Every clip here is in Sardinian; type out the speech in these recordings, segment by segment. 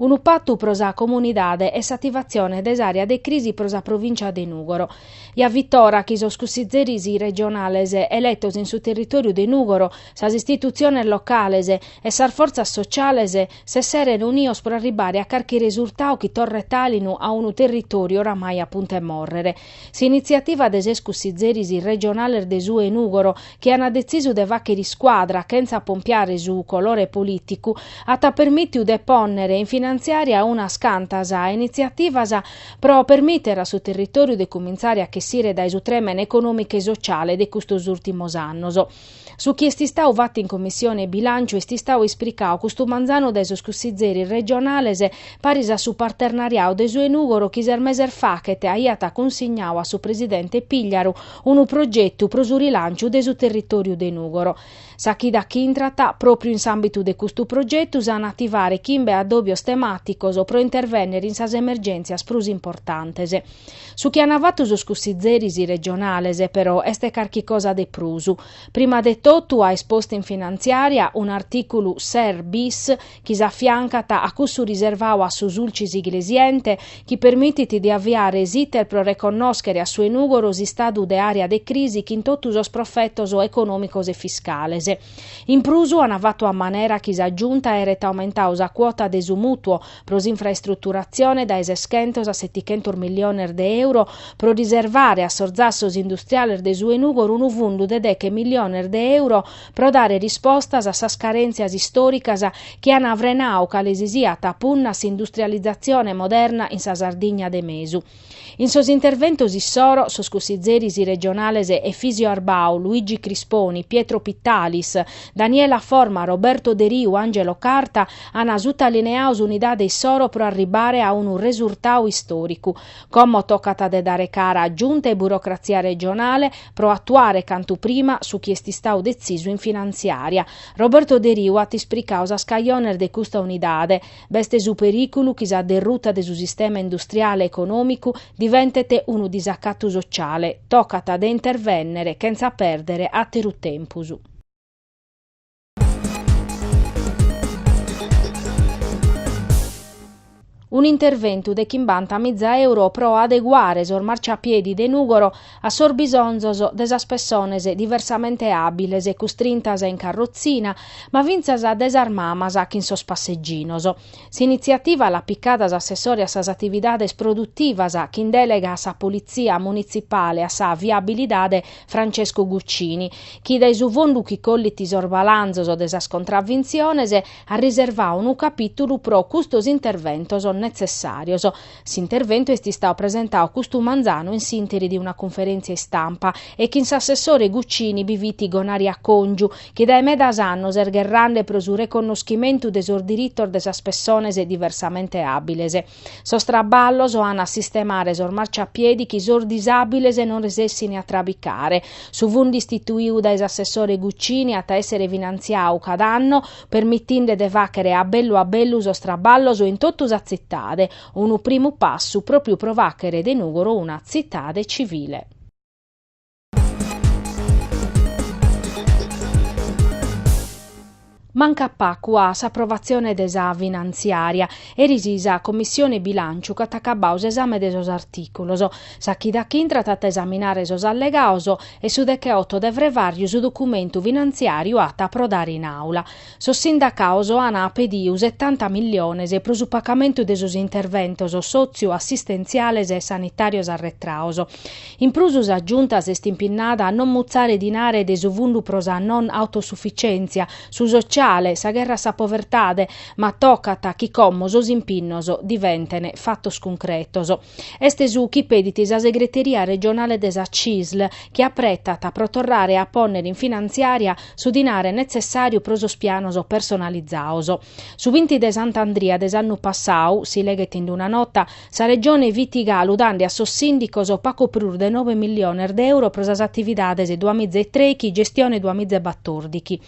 Unu patu pro sa comunidade e s'ativatzione de s'àrea de crisi pro sa provìncia de Nùgoro. Fiat ora chi sos cussitzeris regionales eletos in su territòriu de Nùgoro, sas istitutziones locales e sas fortzas sotziales s'esseren unidos pro arribare a carchi resurtadu chi torret àlinu a unu territòriu oramai a puntu 'e mòrrere. S'initziativa de ses cussizeris regionales de su 'e Nùgoro, chi ant detzisu de fàghere iscuadra chentza pompiare su colore polìticu, at permìtiu de pònnere in finantziària unas cantas initziativas pro permìtere a su territòriu de cumintzare a chessire dae su trèmene econòmicu e sotziale de custos ùrtimos annos. Su chi est istadu fatu in Commissione 'e Bilànciu est istadu ispricadu custu manzanu dae sos cussizzeris regionales paris a su partenariadu de su 'e Nùgoro chi ses meses faghet aiat cunsignadu a su presidente Pigliaru unu progetu pro su rilànciu de su territòriu de Nùgoro. Sa chida chi intrat pròpriu in s'àmbitu de custu progetu s'an a ativare chimbe addòbios temàticos pro intervènnere in sas emergèntzias prus importantes. Su chi an fatu sos cussitzeris regionales, però, est carchi cosa de prus. Prima de totu an postu in finantziària un'artìculu ses bis chi s'afiancat a cussu riservadu a su Sulcis Iglesiente chi permitit de aviare s'iter pro reconnòschere a su 'e Nùgoro s'istadu de àrea de crisi chin totu sos profetos econòmicos e fiscales. In prus an fatu a manera chi sa Giunta aeret aumentadu sa cuota de su mùtuo pro s'infraestruturatzione dae seschentos a setichentos milliones de euro pro riservare a sos zassos industriales de su 'e Nùgoro unu fundu de deche milliones de euro pro dare rispostas a sas carèntzias istòricas chi an frenadu cale si siat punna 'e industrializatzione moderna in sa Sardigna de mesu. In sos interventos issoro, sos cussitzeris regionales Efisio Arbau, Luigi Crisponi, Pietro Pittalis, Daniela Forma, Roberto Deriu, Angelo Carta, an sutaliniadu s'unidade issoro pro arribare a unu resurtadu istòricu. Como tocat de dare cara a Giunta e burocratzia regionale pro atuare cantu prima su chi est istadu detzisu in finanziària. Roberto Deriu at ispricadu sas cajones de custa unidade, B'est su perìculu chi sa derruta de su sistema industriale e econòmicu diventet unu disacatu sociale, tocat de intervènnere chentza pèrdere àteru tempus. Un'interventu de chimbanta miza euro pro adeguare sos marciapiedi de Nùgoro a sos bisonzos de sas pessones diversamente àbiles e custrintas in carrotzina, ma fintzas de sas mamas chin sos passeginos. S'initziativa l'at picada s'assessore a sas atividades produtivas chin delega a sa politzia munitzipale a sa viabilidade Francesco Guccini, chi dae su fondu chi collit sos balanzos de sas contravintziones at riservadu unu capìtulu pro custos interventos netzessàrios. S'interventu est istadu presentadu custu manzanu in s'interi de una cunferèntzia istampa e chin s'assessore Guccini bi fit Gonaria Còngiu, chi dae medas annos est gherrande pro su reconnoschimentu de sos diritos de sas pessones diversamente àbiles. Sos traballos ant a sistemare sos marciapiedi chi sos disàbiles non resessini a trabicare. Su fundu istituidu dae s'assessore Guccini at a èssere finantziadu cada anno permitinde de fàghere a bellu a bellu sos traballos in totu sa tzitade, unu primu passu pròpriu pro fàghere de Nùgoro una tzitade tzivile. Mancat pagu a s'aprovatzione de sa finantziària, eris sa Commissione Bilànciu ch'at acabadu s'esame de sos artìculos, sa chida chi intrat at a esaminare sos allegados e su decheotto de frevàrriu su documentu finantziàriu at a aprodare in Àula. Sos sindacaos an pediu setanta milliones pro su pacamentu de sos interventos sòtzio-assistentziales e sanitàrios arretraos. In prus sa Giunta s'est impinnada a non mutzare dinare de su fundu pro sa non autosufitzièntzia, su sotziale, sa gherra a sa povertade, ma tocat chi como sos impinnos diventene fatos cuncretos. Est su chi pedit sa segreteria regionale de sa CISL, chi apretat pro torrare a pònnere in finantziària su dinare netzessàriu pro sos pianos personalizados. Su binti de Sant'Andria de s'annu passadu, si leghet in una nota, sa Regione fit galu dande a sos sìndicos pagu prus de nove milliones de euro pro sas atividades Duamiza e Trèichi, Gestione Duamiza e Batòrdichi.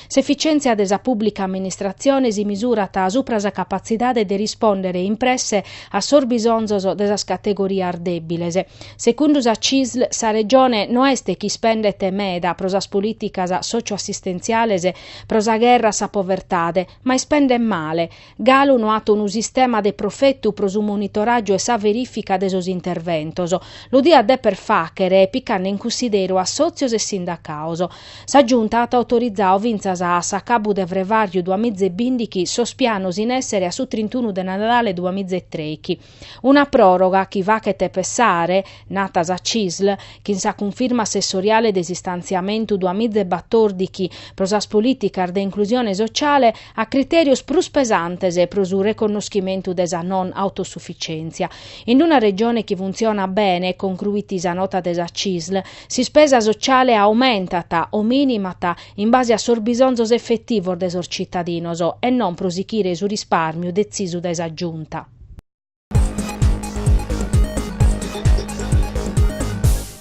S'efficièntzia de sa pùblica amministratzione si misurat subra sa capatzidade de rispòndere in presse a sos bisonzos de sas categorias dèbiles. Segundu sa CISL sa Regione no est chi ispendet meda pro sas polìticas sòcio-assistentziales pro sa gherra a sa povertade, ma ispendet male, Galu no at unu sistema de profetu pro su monitoràgiu e sa verìfica de sos interventos. Lu diat dèpere fàghere picande in cunsideru assòtzios e sindacados. Sa Giunta at autorizadu fintzas a s'acabu de frevàrgiu duamiza e bìndighi sos pianos in èssere a su trintunu de Nadale duamiza e trèighi. Una pròroga chi fachet pessare, nata sa Cisl, chi in sa cunfirma assessoriale de s'istantziamentu duas miza e batòrdichi pro sas polìticas de inclusione sociale a critèrios prus pesantes pro su reconnoschimentu de sa non autosufitzièntzia. In una Regione chi funtzionat bene, concruit sa nota de sa Cisl, s'ispesa sociale aumentat o minimat in base a sos bisonzos efetivos de sos citadinos e non pro sichire su risparmiu detzisu dae sa Giunta.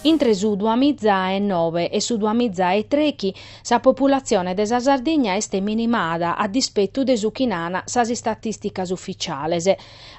Intre su duamiza e nobe e su duamiza e trechi sa populatzione de sa Sardigna est minimada a dispetu de su chi nana sas istatìsticas ufitziales.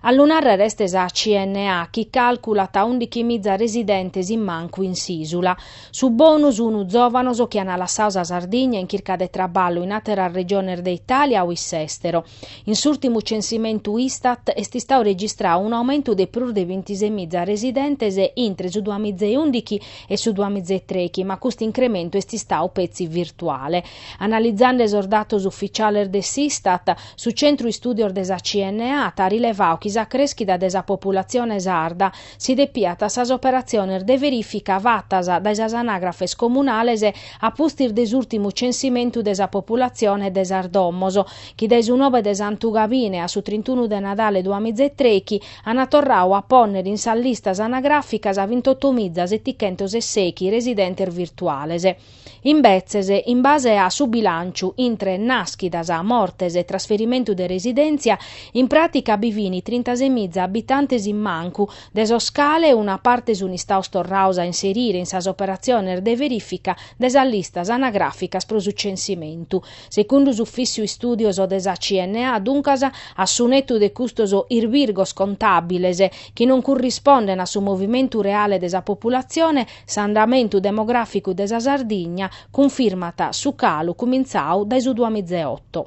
A lu nàrrere est sa CNA chi càlculat undichimiza residentes in mancu in s'ìsula. Su bonu sunu zòvanos chi ana lassadu sa Sardigna in chirca de traballu in àteras regiones de Itàlia o iss'èstero. In s'ùrtimu censimentu Istat est istadu registradu un'aumentu de prus de bintisei miza residentes intre su duamizeundichi e su duamizetrechi, ma custu incrementu est istadu petzi virtuale. Analizande sos datos ufitziales de s'Istat, su Centru Istùdios de sa CNA at rilevadu chi sa crèschida de sa populatzione sarda si depiat a sas operatziones de verìfica fatas dae sas anagrafes comunales a pustis de s'ùrtimu censimentu de sa populatzione e de sas domos, chi dae su nobe de Santu Gabine a su trintunu de Nadale duas miza e trechi ant torradu a pònnere in sas listas anagràficas vintotomiza setichentos e sèichi residentes virtuales. Imbetzes, in base a su bilànciu intre nàschidas, mortes e trasferimentu de residèntzia, in pràtica bi fin trintasemiza abitantes in mancu, de sos cale una parte sun istados torrados a inserire in sas operatziones de verìfica de sas listas anagràficas pro su censimentu. Segundu s'Ufìtziu Istùdios de sa CNA, duncas, a su netu de custos irbirgos contàbiles chi non currispondent a su movimentu reale de sa populatzione, S'andamentu demogràficu de sa Sardigna cunfirmat su calu cumintzadu dae su duamizaeoto.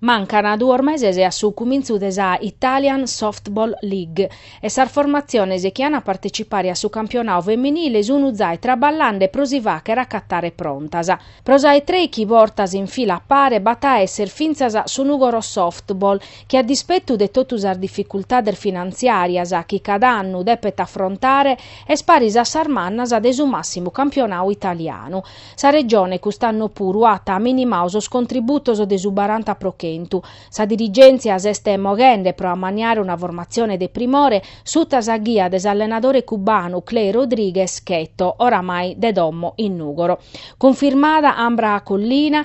Mancant duos meses a su cumintzu de sa Italian Softball League e sas formatziones chi ant a partecipare a su campionadu feminile sun zai traballande pro si fàcher acatare prontas. Pro sa 'e trèichi bortas in fila a pare b'at a esser fintzas su Nugoro Softball chi a dispettu de totu sas dificultades finantziàrias chi cada annu depet afrontare, est paris a sas mannas de su màssimu campionadu italianu. Sa Regione cust'annu puru at minimadu sos contributos de su baranta pro chentu. Sa dirigèntzia s'est moghende pro ammaniare una formatzione de primore suta sa ghia de s'allenadore cubanu Clay Rodriguez Cheto, oramai de domo in Nùgoro. Cunfirmada Ambra Collina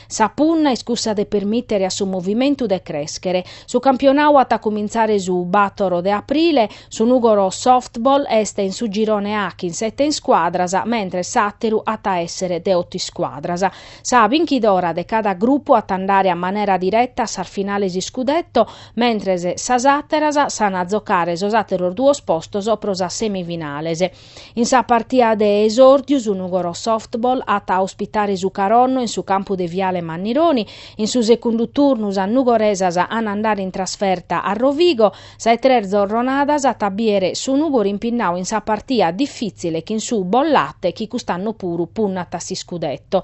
Sa punna est cussa de permìtere a su movimentu de crèschere. Su campionau at a cumintzare su bator de aprile, su Nùgoro Softball est in su girone A chin sete iscuadras, mentres s'àteru at a èssere de oto iscuadras. Sa binchidora de cada grupu at a andare a manera direta a sas finales iscudetto, mentres sas àteras s'an a zocare sos àteros duos postos pro sas semifinales. In sa partia de esòrdiu su Nugoro Softball at a ospitare su Caronno in su campu de Viale Mannironi. In su secundu turnu sas nugoresas an a andare in trasferta a Rovigo. Sa 'e tres zorronadas at a bìere su Nùgoro impinnau in sa partia difìtzile chin su Bollate chi cust'annu puru punnat a s'iscudetto.